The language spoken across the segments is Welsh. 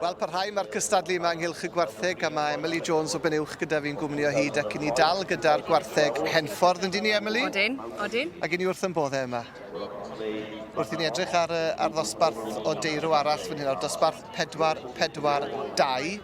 Wel parhau mae'r cystadlu yma ynghylch y gwartheg a mae Emily Jones o Benuwch gyda fi'n gwmni o hyd ac i ni dal gyda'r gwartheg Henffordd yndyn ni Emily? Odyn, odyn. Ac i ni wrth yn boddau yma. Wrth i ni edrych ar, ar ddosbarth o deirw arall fan hyn, ar dosbarth 4-4-2.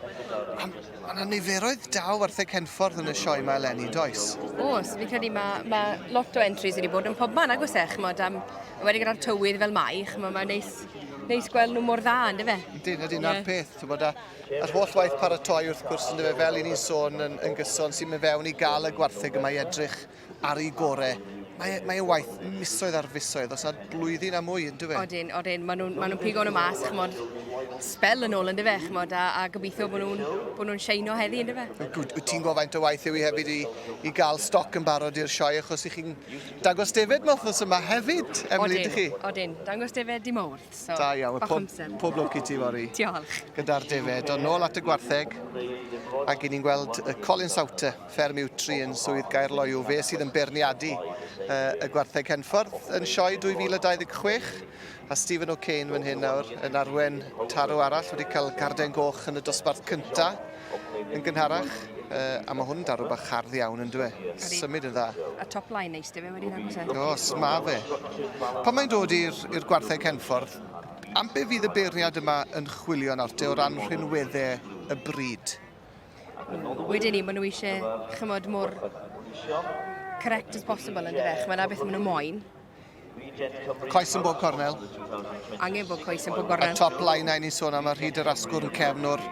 Mae yna niferoedd da o wartheg Henffordd yn y sioe yma eleni, does? Oes, fi'n credu mae, mae lot o entries wedi bod yn pobman agos e, chymod, am, wedi gyda'r tywydd fel mai, chymod, mae'n neis neis gweld nhw mor dda, ynddo fe? Ydyn, ydyn, yeah. na'r peth. Ti'n bod, a'r holl waith paratoi wrth gwrs, ynddo fe, fel i ni'n sôn yn, yn gyson, sy'n mynd fewn i gael y gwartheg yma i edrych ar ei gorau. Mae, mae e waith misoedd ar fisoedd, os nad blwyddyn a mwy, ynddo fe? Odyn, odyn. Maen nhw'n ma nhw pigo nhw mas, chymod, spel yn ôl, ynddo fe, chymod, a, a gobeithio bod nhw'n nhw, nhw seino heddi, ynddo fe? Wyt ti'n gwybod faint o waith yw i hefyd i, i gael stoc yn barod i'r sioe, achos i chi'n Dangos defaid ma wthnos yma hefyd, Emily, ydych chi? Odyn, odyn. Dangos defaid dy Mowrth, so Da iawn, bach pob, amser. pob lwc i ti fori. Diolch. Gyda'r defaid, ond nôl at y gwartheg, ac i ni'n gweld y Colin Sawte, fferm Iwtri yn Swydd Gaerloyw, fe sydd yn beirniadu uh, y gwartheg Henffordd yn sioe 2026. A Stephen O'Kane fan hyn nawr yn arwen tarw arall wedi cael garden goch yn y dosbarth cynta yn gynharach. Uh, a mae hwn yn darw bach hardd iawn yn dwe. Symud yn dda. A top line neis dy fe wedi dangos e. Os, ma fe. Pan mae'n dod i'r gwartheg Henffordd, am be fydd y beirniad yma yn chwilio nawr te o ran rhinweddau y bryd? Wedyn ni, maen nhw eisiau chymod mor correct as possible yn dyfech. Mae yna beth maen nhw moyn. Coes yn bob cornel. Angen bod coes yn bob cornel. Y top line na ni'n sôn am y rhyd yr asgwrn cefn o'r,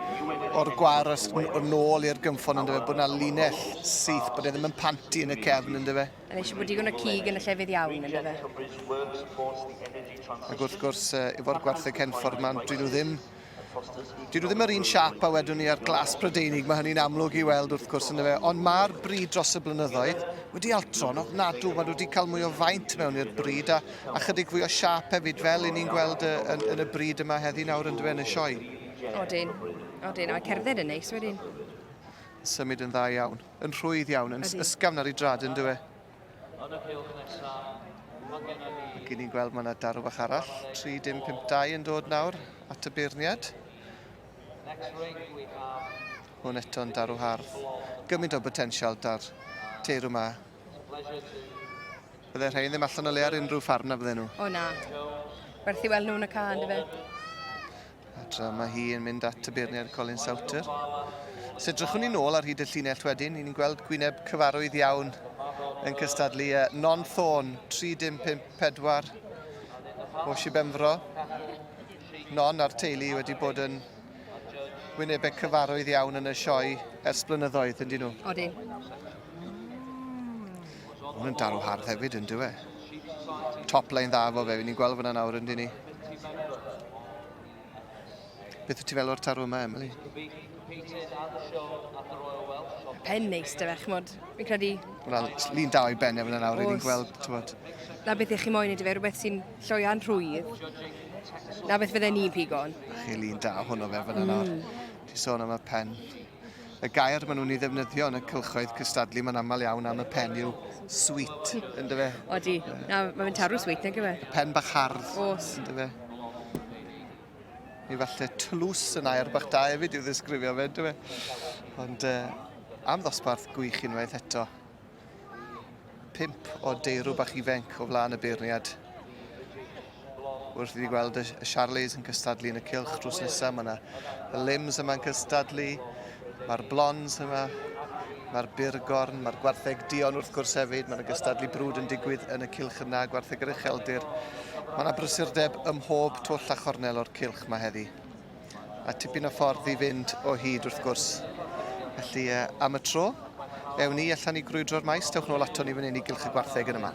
or gwar o'r nôl i'r gymffon ynddo fe, bod yna linell syth, bod e ddim yn panti yn y cefn ynddo fe. Yn eisiau bod digon o cig yn y llefydd iawn ynddo fe. Ac wrth gwrs, uh, efo'r gwartheg cenffordd mae'n dwi nhw ddim Dydw ddim yr un siap a wedwn ni ar glas Prydeinig, mae hynny'n amlwg i weld wrth gwrs yn y fe, ond mae'r bryd dros y blynyddoedd wedi altro'n ofnadw, mae wedi cael mwy o faint mewn i'r bryd a, a chydig fwy o siap hefyd fel i ni'n gweld y, yn, yn y bryd yma heddi nawr yn yn y sioe. Odyn, odyn, a'r cerdded yn neis wedyn. Symud yn dda iawn, yn rhwydd iawn, yn ysgafn ar ei drad yn dywe. Yn y cylch nesaf, mae gennym ni... Ac i ni'n gweld mae yna darw bach arall, 3-5-2 yn dod nawr at y beirniad. Next ring we have... Hwn eto'n darw hardd. Gymaint o botensial dar teirw yma. Bydde rhain ddim allan o le ar unrhyw ffarm na bydde nhw? O na. Werth i weld nhw yn y car, dy fe? A tra mae hi yn mynd at y beirniaid Colin Souter. Os edrychwn ni'n ôl ar hyd y llinell wedyn, ni'n gweld gwyneb cyfarwydd iawn yn cystadlu e. Non Thorn, 3-5-5-4 o Sibenfro. Non a'r teulu wedi bod yn wynebau cyfarwydd iawn yn y sioe ers blynyddoedd, yn dyn nhw? Odyn. Mae'n dal o hardd hefyd yn dywe. Top line dda fo fe, ni'n gweld fyna nawr yndyn ni. Beth wyt ti fel o'r tarw yma, Emily? Pen neis, dy fe, chymod, fi'n credu... Wel, lun da o'i ben efo nawr, ni'n gweld, tywod. Na beth eich chi moyn i dy fe, rhywbeth sy'n lloian rhwydd. Na beth fydde ni'n pigon. Chi lun da hwnnw fe fyna nawr. Mm. Ti sôn am y pen. Y gair maen nhw'n ei ddefnyddio yn y cylchoedd cystadlu mae'n aml iawn am y pen yw sweet, yn dy fe? Odi. Na, mae fe'n tarw sweet, nag yw e? Pen bach hardd. Os. Yn dy fe? Neu falle tlws yn air bach da hefyd i'w ddisgrifio fe, dy fe? Ond uh, am ddosbarth gwych unwaith eto. Pimp o deirw bach ifenc o flaen y beirniad. Wrth i ni gweld y Charlies yn cystadlu yn y cilch drws nesaf, mae yna y Lims yma'n cystadlu, mae'r Blonds yma, mae'r Burgorn, mae'r Gwartheg Dion wrth gwrs hefyd, mae'n gystadlu brwd yn digwydd yn y cilch yna, Gwartheg yr Ucheldir. Mae yna brysurdeb ym mhob twll a chornel o'r cilch mae heddi. a tipyn o ffordd i fynd o hyd wrth gwrs. Felly uh, am y tro, ewn ni allan i grwydro'r maes, dewch nôl ato ni fan hyn i gylch y gwartheg yn yma.